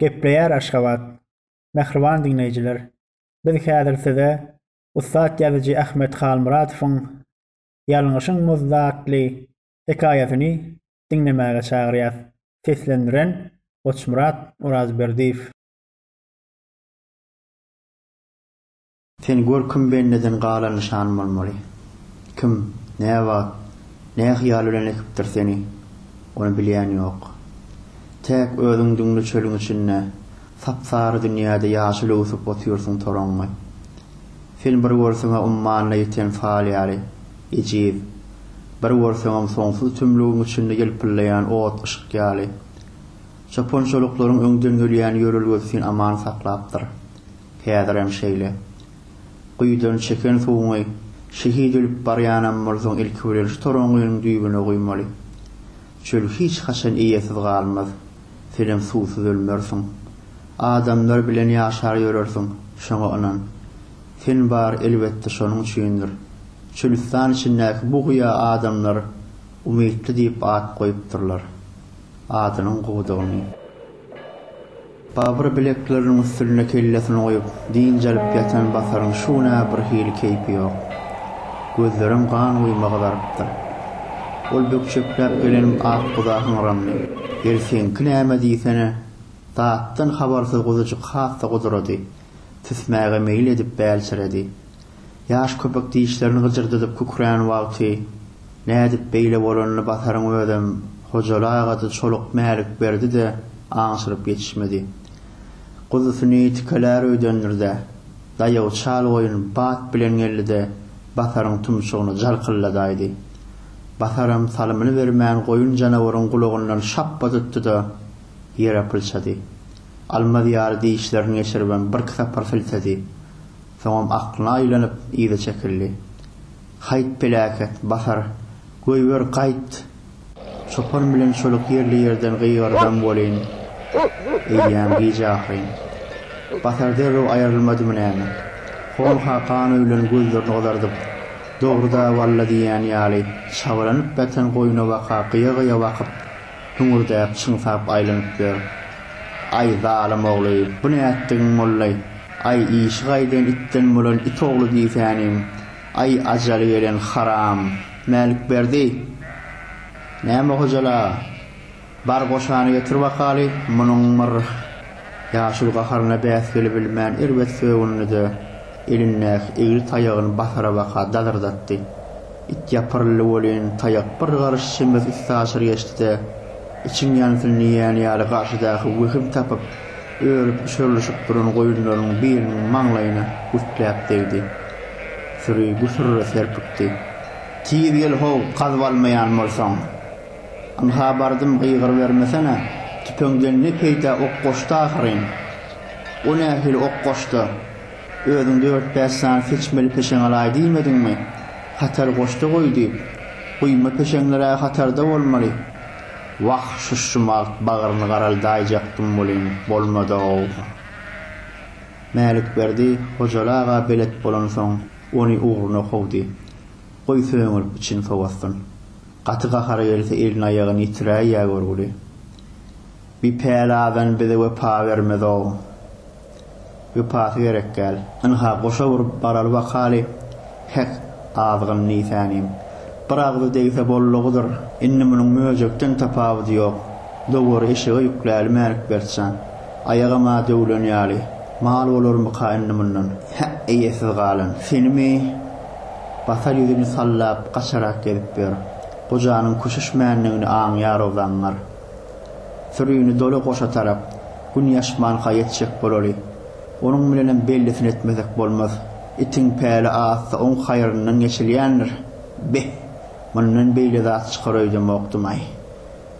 Gepleýär Aşgabat. Mähriban diňleýjiler, biz häzir size ussat ýazyjy Ahmet Halmyradowyň Ýalňyşyň muzdy atly hekaýasyny diňlemäge çagyrýas. Seslendiren, Goçmyrat Orazberdiýew. Sen gör kim bendeden galan nyşan bolmaly? Kim, näwagt, nähyýal bilen ekipdir seni, ony bilýän ýok. Täk özüň düňli çölüň içinde, sap-sary dünýäde ýaşyl öwsüp otyrsyň toraňňy. Sen bir görseň-ä ummanyna ýeten sal ýaly, ejiz. Bir görseňem soňsuz tümlügiň içinde ýylpyldaýan ot yşk ýaly. Çopançalyklaryň öňden gelýän ýörelgesi seni aman saklapdyr. Häzirem şeýle. Guýudan çeken suwuňy şehit ölüp barýanam bolsaň ilki bilen şu toraňňynyň düýbüne guýmaly. Çöl hiç haçan eýesiz galmaz. Senem suwsuz ölmersiň. Adamlar bilen ýaşar ýörersiň, şoňa ynan. Sen bar elbetde şonuň üçindir. Çölüstan içindäki bu guýa adamlar Umytly diýip at goýupdyrlar. Adynyň gowudygyny. Babyr bilekleriniň üstünde kellesini goýup, dynç alyp ýatan Basaryň şu gün-ä birhili keýpi ýok. Gözlerem gan guýma gyzarypdyr. Ol bökjekläp gelen ak guza hyňrandy. Ýeri seňki näme diýsene? Datdan habarsyz guzujyk has-da gudurady. Tüsmäge meýil edip bälçiredi. Ýaş köpek dişlerini gyjyrdydyp kükrän wagty, nädip beýle bolanyny Basaryň özem, Hojaly aga-da, Çoluk Mälikberdi-de aňşyryp ýetişmedi. Guzusyny tikelär öýdendir-de, daýaw çal goýun bat bilen geldi-de, Basaryň tumşugyny jalkylladaýdy. Basaram salymyny bermän goýun janawaryň gulagyndan şapba tutdy-da, ýere pylçady. Almaz ýaly dişlerini geçiribem birki sapar siltedi. Soňam aklyna aýlanyp, yza çekildi. Haýt, peläket, basar, goýber, gaýt! Çopan bilen çoluk ýerli-ýerden gygyrdam welin, eýýäm giç ahyryn. Basar derrew aýrylmadymy näme? Honha gan öwlen gözlerini gyzardyp, Dogry-da, walla diýýän ýaly, çabalanyp ýatan goýuna-baka gyýa-gyýa bakyp, Hüňürdäp, çyňsap aýlanyp ýör. Aý, zalym ogly, bu nätdigiň bollaý? Aý, işi gaýdan itden bolan it ogly diýsänim. Aý, ajaly gelen haram! Mälikberdi! Näme Hojala? Bar goşany getir bakaly! Munuň bir ýaşuly gaharyna bäs gelibilmän erbet sögündi-de, elindäki egri taýagyny basara baka dazyrdatdy. It ýapyryldy welin, taýak bir garyş çemesi üstaşyr geçdi-de, içiň ýansyn diýýän ýaly garşydaky wehim tapyp, örüp üçerlişip duran goýunlarynyň biriniň maňlaýyna gürtläp degdi. Süri gusura serpikdi. Tiz gel-how, gazyp almaýan bolsaň! Ynha bardym, gygyrybermesene, tüpeňden ne peýda, ok goşdy ahyryn! O nähili ok goşdy? Özüň dört-bäş sany seçmeli peşeň alaý diýmediňmi? Hatar goşda goý diýip. Guýma peşeňler-ä hatarda bolmaly. Wah, şuşumagt bagryny garaldaýjakdym welin, bolmady-ow. Mälikberdi Hojaly aga belet bolansoň, ony ugruna kowdy. Goý söňürip içini sowatsyn. Gaty gahary gelse elini-aýagyny ýitiräýýä görgüli. Bir päli adam bize wepa bermez-ow. Wepasy gerekgäl. Ynha, goşa urup baraly bakaly, hek, azgyn nisäniň. Bir agzy degse boldugydyr. Indi munuň möjekden tapawudy ýok. Dowary eşege ýükläli Mälikbert jan. Aýagam-a döwlen ýaly. Mal bolarmyka indi mundan? Hä, eýesiz galan. Senimi? Basar ýüzüni sallap, gaçarak gezip ýör. Gojanyň küşüşmändigini aňýar-ow zaňňar. Sürini doly goşa tarap, Gün ýaşmanka ýetjek bolaly. Onuň bilenem bellisini etmesek bolmaz. Itiň päli atsa oň haýryndan geçilýändir. Be! Mundan beýle zat çykar öýdemokdym-aý.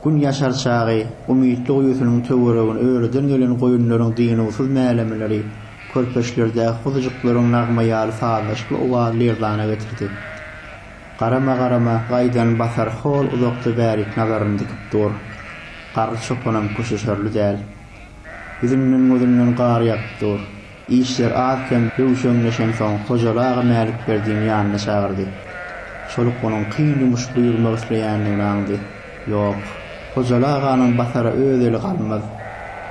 Gün ýaşar çagy Umytly guýusynyň töweregini örüden gelen goýunlaryň dynuwsyz mälemeleri, körpeçlerdäki guzujyklaryň nagma ýaly sazlaşykly owazy lerzana getirdi. Garama-garama gaýdan Basar hol uzakda bärik nazaryny dikip dur. Garry çopanam köşeşerli däl. Ýüzünden-gözünden gar ýagyp dur. Işler az-kem hüwşeňleşensoň Hojaly aga Mälikberdini ýanyna çagyrdy. Şoluk onuň kyn ýumuş buýurmak isleýändigini aňdy. Ýok. Hojaly aganyň basara öz eli galmaz.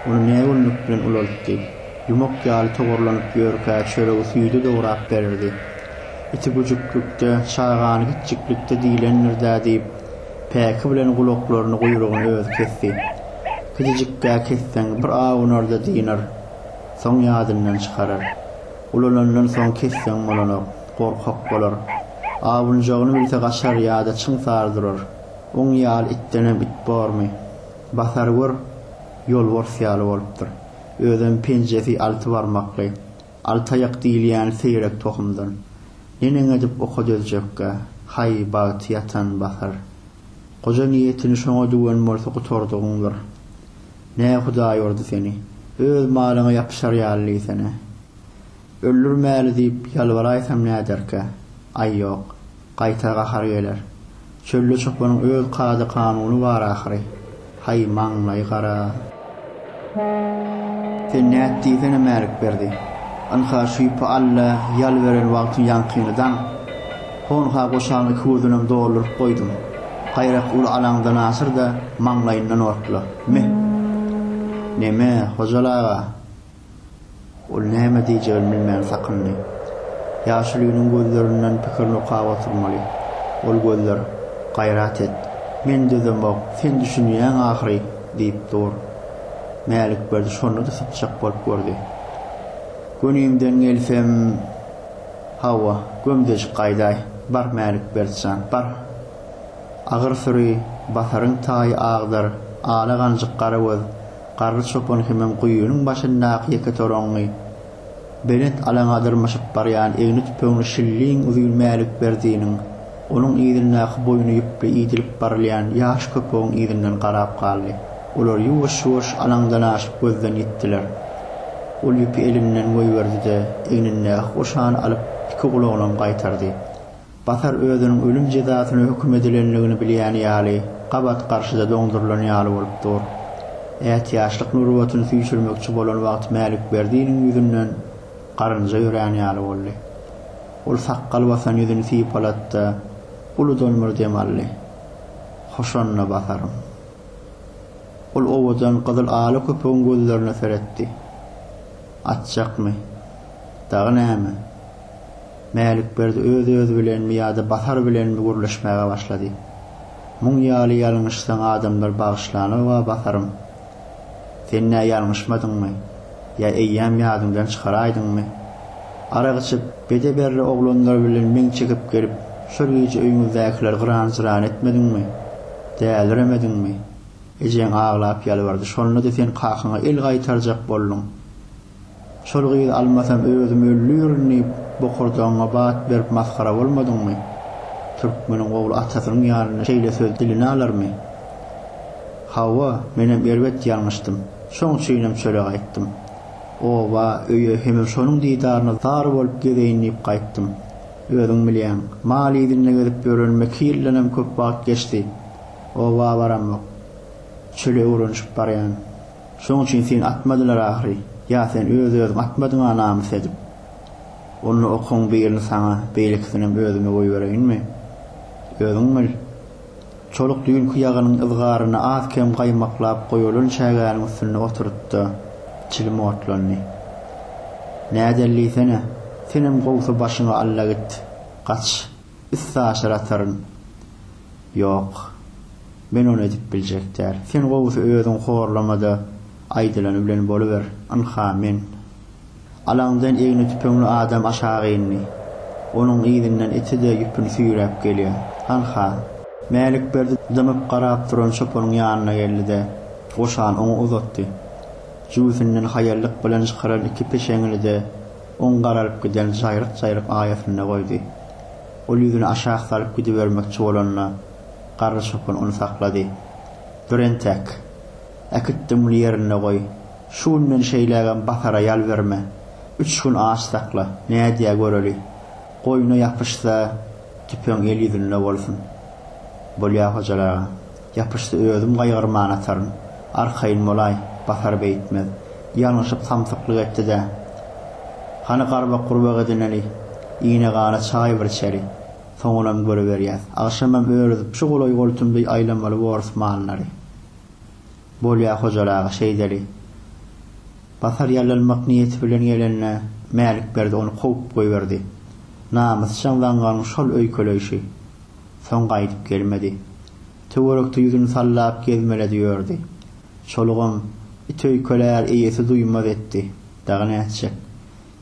Ony nägünlük bilen ulaltdy. Ýumak ýaly togurlanyp ýörkä çöregi süýde dograp bererdi. Iti güjüklikde, çagany gitjiklikde diýlendir-dä diýip, päki bilen gulaklaryny, guýrugyny özi kesdi. Gidijikgä kesseň, bir awunar-da dynar. Soň ýadyndan çykarar. Ulalandan soň kesseň bolanok. Gorkak bolar. Awunjagyny bilse gaçar ýa-da çyň sary durar. Oň ýaly itdenem it bormy? Basar gör, ýolbars ýaly bolupdyr. Özem penjesi alty barmakly. Altaýak diýilýäni seýrek tohumdan. Neneň edip oka dözjekkä? Haý, bagty ýatan Basar. Goja niýetini şoňa düwen bolsa gutardygyňdyr. Nä Hudaý urdy seni? Öz malyňa ýapyşar ýaly diýsene. Öldürmäli diýip ýalbaraýsam näderkä? Aý, ýok. Gaýtar gahar geler. Çölde çopanyň öz kada-kanuny bar ahyry. Haý, maňlaýy gara. Sen nät diýsene, Mälikberdi. Ynha, şüýpe Alla ýalyberen wagtyň ýaňkyny daň. Honha goşagyň iki gözünem dolduryp goýdum. Gaýrak uly alaňdan asyr-da, maňlaýyndan otla. Myh! Neme, Hojal aga? Ol näme diýjegini bilmän sakyndy. Ýaşulynyň gözlerinden pikirini okap oturmaly. Ol gözler, Gaýrat et! Men dözemok, sen düşünýäň ahyry! diýip dur. Mälikberdi şonda-da sypjak bolup gördi. Gönimden gelsem, hawa, gömdejik gaýdaý! Bar, Mälikberdi jan, bar! Agyr süri, basaryň taýy agdyr, ala ganjyk garagöz, Garry çopan hemem guýynyň başyndaky ýeke toraňňy belent alaňa dyrmaşyp barýan egni tüpeňli şilliň uzyn Mälikberdiniň, onuň yzyndaky boýny ýüpli idilip barylýan ýaş köpegiň yzyndan garap galdy. Olar ýuwaş-ýuwaş alaňdan aşyp gözden ýitdiler. Ol ýüpi elinden goýberdi-de, egnindäki goşany alyp, iki gulagyna gaýtardy. Basar özüniň ölüm jezasyna höküm edilendigini bilýän ýaly, gabat garşyda doňdurylan ýaly bolup dur. Ätiýaçlyk nurbatyny süýşürmekçi bolan wagty Mälikberdiniň ýüzünden garynja ýörän ýaly boldy. Ol sakgal basan ýüzüni sypalatdy-da, uludan bir dem aldy. Hoşanda Basarym. Ol owadan gyzyl ala köpegiň gözlerine seretdi. Atjakmy? Dagy näme? Mälikberdi öz-özi bilenmi ýa-da Basar bilenmi gürleşmäge başlady. Muň ýaly ýalňyşsaň adamlar bagyşlanoga Basarym. Sen nä ýalňyşmadyňmy? Ýa eýýäm ýadyňdan çykaraýdyňmy? Arak içip, bede-berre oglanlar bilen meň çekip gelip, şol gije öýüňizdäkileri gyran-jyran etmediňmi? Däliremediňmi? Ejeň aglap ýalbardy. Şonda-da sen kakaňa el gaýtarjak bolduň. Şol gyzy almasam özüm öldürin diýip bokurdagyňa bat berip masgara bolmadyňmy? Türkmeniň ogly atasynyň ýanynda şeýle söz diline alarmy? Hawa, menem erbet ýalňyşdym. Şoň üçinem çöle gaýtdym. Oba, öýe hemem şonuň didaryna zar bolup gezeýin diýip gaýtdym. Özüň bilýäň, mal yzynda gezip ýörenime iki ýyldan hem köp wagt geçdi. Oba baramok. Çöle öwrenişip barýan. Şoň üçin seni atmadylar ahyry, ýa sen öz-özüňi atmadyň-a namys edip? Onda okuň birini saňa, beýlekisinem özüme goýbereýinmi? Özüň bil. Çoluk düýnki ýagynyň yzgaryny az-kem gaýmaklap goýulan çägäniň üstünde oturyp-da, çilim otlandy. Nädel diýsene, senem gowsy başyňy alla git, gaç, üstaşyr ataryn. Ýok. Men ony edip biljek däl. Sen gowusy özüň horlamada aýdylany bilen boluber. Ynha, men. Alaňdan egni tüpeňli adam aşak indi. Onuň yzyndan iti-de ýüpüni süýräp gelýär. Hanha. Mälikberdi dymyp garap duran çopanyň ýanyna geldi-de, goşany oňa uzatdy. Jübüsinden haýallyk bilen çykaran iki peşeňini-de oň garalyp giden jaýryk-jaýryk aýasynda goýdy. Ol ýüzüni aşak salyp gidibermekçi bolanda. Garry çopan ony saklady. Dur entek. Äkitdiňmi ýerinde goý. Şu günden şeýlägem Batara ýal berme. Üç gün aç sakla. Nädýä göreli. Goýna ýapyşsa, tüpeň el ýüzünde bolsun. Bolýa Hojaly aga. Ýapyşsa özüm gaýgyrman ataryn. Arkaýyn bolaý. Batar beýtmez. Ýalňyşyp samsyklyk etdi-dä. Hany garbak-gurbak edineli. Ine-gana çaý bir içeli. Soňunam görüberýäs. Agşamam örüzip şu golaý-goltum deý aýlamaly borus mallary. Bolýa Hojaly aga, şeýdeli. Basar ýallanmak niýeti bilen gelende Mälikberdi ony kowup goýberdi. Namysjaň zaňňaryň şol öýkeleýşi. Soň gaýdyp gelmedi. Töwerekde ýüzüni sallap gezmeledi ýördi. Çolugam, It öýkelär, eýesi duýmaz etdi. Dagy nätjek.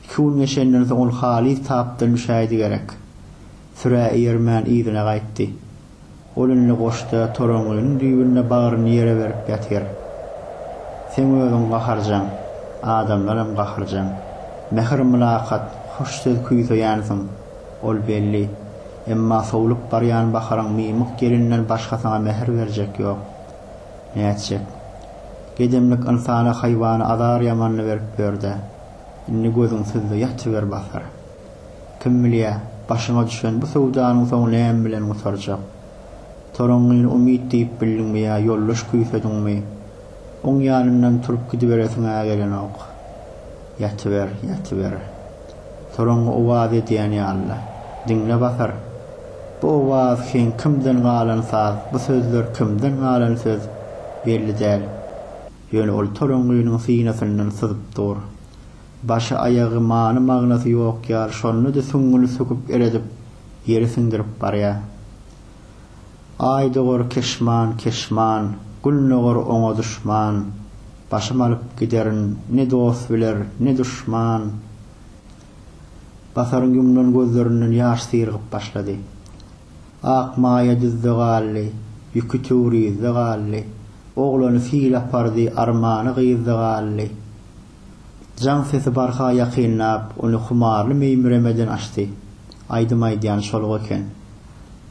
Iki gün geçenden soň ol halys tapdan düşäýdi gerek. Sürä eýermän yzyna gaýtdy. Ol indi goşda torangynyň düýbünde bagryny ýere berip ýatyr. Seň özüň gaharjaň, adamlaram gaharjaň. Mähir-mylakat, hoş söz küýseýänsiň, ol belli. Emma sowlup barýan Baharyň Mymyk gelinden başga saňa mähir berjek ýok. Nätjek? Gedemlik ynsana-haýwana azar-ýamanyny berip ýör-dä. Indi gözüň sizde ýatyber basar. Kim bilýä, başyňa düşen bu söwdanyň soňy näme bilen gutarjak? Toraňňyny umyt diýip bildiňmi ýa ýoldaş küýsediňmi? Oň ýanyndan turup gidiberesiň-ä gelenok. Ýatyber, ýatyber. Toraňňy owaz edýän ýaly. Diňle basar. Bu owaz heň kimden galan saz, bu sözler kimden galan söz, belli däl. Ýöne ol toraňgynyň synasyndan syzyp dur. Başy-aýagy many-magnasy ýok ýaly, şonda-da süňňüni söküp eredip, ýere siňdirip barýar. Aýdogar keşman, keşman, Gülnogar oňa duşman. Başym alyp giderin, ne dost biler, ne duşman. Basaryň ýumlan gözlerinden ýaş syrygyp başlady. Ak maýa düzde galdy, ýüki töwrizde galdy, Oglany sil apardy, armany gyzda galdy. Jaň sesi barha ýakynlap, ony humarly meýmiremeden açdy. Aýdym aýdýan şol-a eken.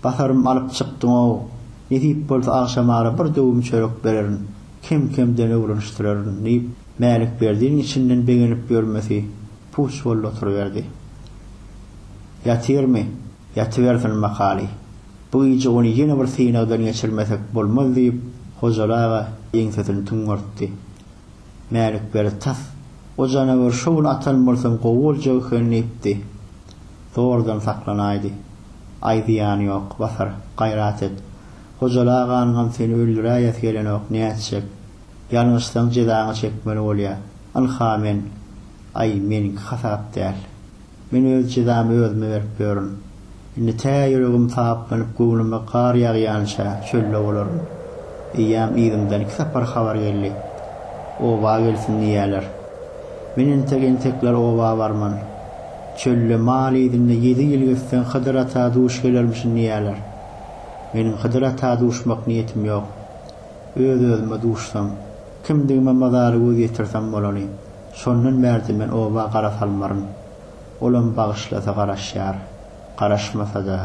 Batarym alyp çykdyň-ow, nesip bolsa agşamara bir döwüm çörek bererin, kem-kemden öwrenişdirerin, diýip, Mälikberdiniň içinden begenip ýörmesi puç boldy oturyberdi. Ýatyrmy? Ýatybersin makaly. Bu gije ony ýene bir synagdan geçirmesek bolmaz, diýip, Hojaly aga ýeňsesini tüňňertdi. Mälikberdi tas, O janaweri şo gün atan bolsaň gowy boljak eken, diýipdi. Zordan saklanaýdy. Aý, zyýany ýok, Basar, gaýrat et. Hojaly aganyňam seni öldüräýesi gelenok, nätjek? Ýalňyşsaň jezaňy çekmeli bolýa. Ynha men. Aý, meniňki hasap däl. Men öz jezamy özüme berip ýörün. Indi tä ýüregim taplanyp, göwnüme gar ýagýança çölde bolaryn. Eýýäm yzymdan iki sapar habar geldi. Oba gelsin diýýäler. Men entek-entekler oba barman. Çölde, mal yzynda ýedi ýyl gezseň Hydyr ata duş gelermişin diýýäler. Meniň Hydyr ata duşmak niýetim ýok. Öz-özüme duşsam, kimdigime mazaly göz ýetirsem bolany. Şondan bärde men oba gara salmaryn. Olam bagyşlasa garaşýar, garaşmasa-da.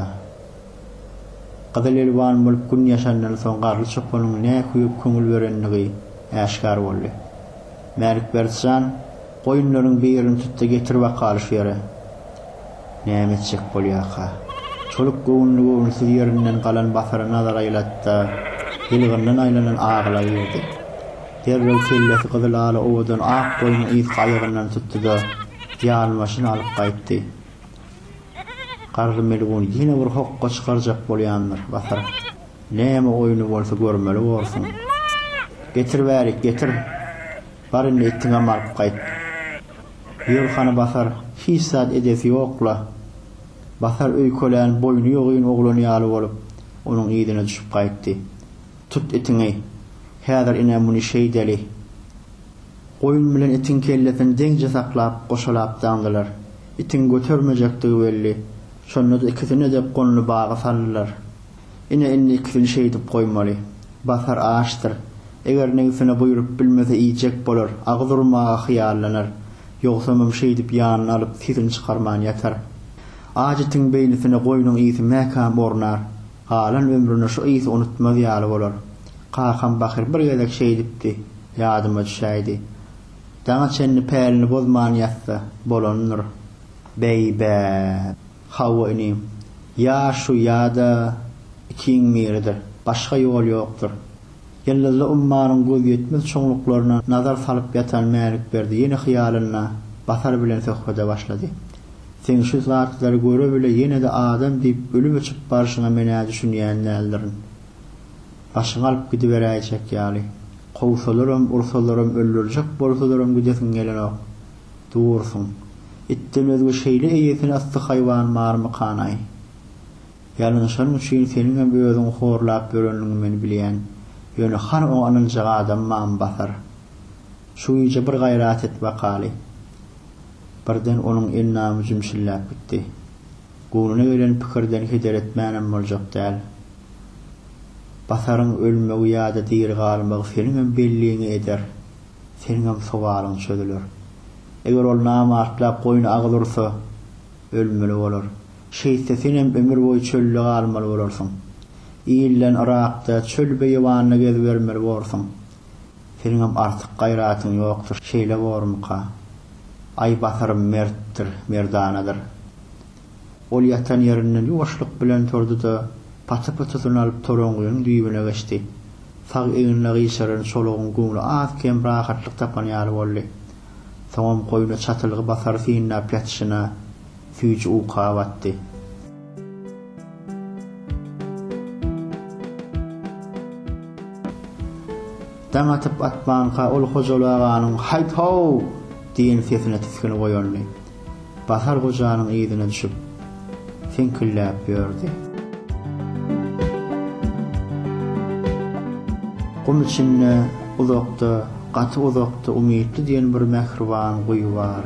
Gyzylelwan bolup gün ýaşandan soň Garly çopanyň nä küýüp köňül berendigi äşgär boldy. Mälikberdi jan, goýunlaryň birini tut-da getir wakaly şu ýere. Näme etjek bolýarka? Çoluk göwünli-göwünsiz ýerinden galan Basara nazar aýlatdy-da, ýylgyndan aýlanan agyla girdi. Derrew kellesi gyzyl-ala owadan ak goýnuň yzky aýagyndan tutdy-da, ýalmaşyny alyp gaýtdy. Garry melgun ýene bir hokga çykarjak bolýandyr, Basar. Näme oýny bolsa görmeli borsuň. Getir bärik, getir! Bar indi itiňem alyp gaýt. Ýör hany Basar, hiç zat edesi ýok-la. Basar öýkelän boýny ýogyn oglan ýaly bolup, onuň yzyna düşüp gaýtdy. Tut itiňi. Häzir ine muny şeýdeli. Goýun bilen itiň kellesini deňje saklap, goşalap daňdylar. Itiň götermejekdigi belli. Şonda-da ikisini-de gonly baga saldylar. Ine indi iki gün şeýdip goýmaly. Basar açdyr. Eger negsine buýrup bilmese iýjek bolar, agyz urmaga hyýallanar. Ýogsamam şeýdip ýanyna alyp sesini çykarman ýatar. Aç itiň beýnisine goýnuň ysy mäkäm ornar. Galan ömrüne şu ysy unutmaz ýaly bolar. Kakam Bahyr bir gezek şeýdipdi, ýadyma düşäýdi. Daňa çenli pälini bozman ýatsa, bolandyr. Beý-bäp! Hawa inim. Ýa şu ýa-da ikiň biridir. Başga ýol ýokdur. Ýyldyzly ummanyň gözýetmez çuňluklaryna nazar salyp ýatan Mälikberdi ýene hyýalynda Basar bilen söhbede başlady. Seň şu zatlary göre bile ýene-de adam diýip ölüp öçüp barşyňa men-ä düşünýän däldirin. Başyňy alyp gidiberäýjek ýaly. Kowsalaram, ursalaram, öldürjek bolsalaram gidesiň gelenok. Dursun. Itden özge şeýle eýesini ysly haýwan barmykan-aý? Ýalňyşanym üçin seniňem özüňi horlap ýöreniňi men bilýän. Ýöne hany oňa ynanjak adam bamy Basar? Şu gije bir gaýrat et bakaly. Birden onuň endamy jümşülläp gitdi. Göwnüne gelen pikirden heder etmänem boljak däl. Basaryň ölmegi ýa-da diri galmagy seniňem belliňi eder. seniňem sowalyň çözüler. Eger ol namartlap goýun agyz ursa, ölmeli bolar. Şeýtse senem ömür boýy çölde galmaly bolarsyň. Ilden yrakda, çöl-beýewanda gezibermeli borsuň. Seniňem artyk gaýratyň ýokdur, şeýle bormyka? Aýbatarym mertdir, merdanadyr. Ol ýatan ýerinden ýuwaşlyk bilen turdy-da, paty-pytysyny alyp toraňgynyň düýbüne geçdi. Sag egnine gyşaran çolugyň göwni az-kem rahatlyk tapan ýaly boldy. Soňam goýna çatylgy basar synlap ýatyşyna, süýji uka batdy. Daň atyp-atmanka ol Hojaly aganyň Haýt-haw! diýen sesine tisginip oýandy. Bahar gojanyň yzyna düşüp, seňkilläp ýördi. Gum içinde, uzakda, gaty uzakda Umytly diýen bir mähriban guýy bar.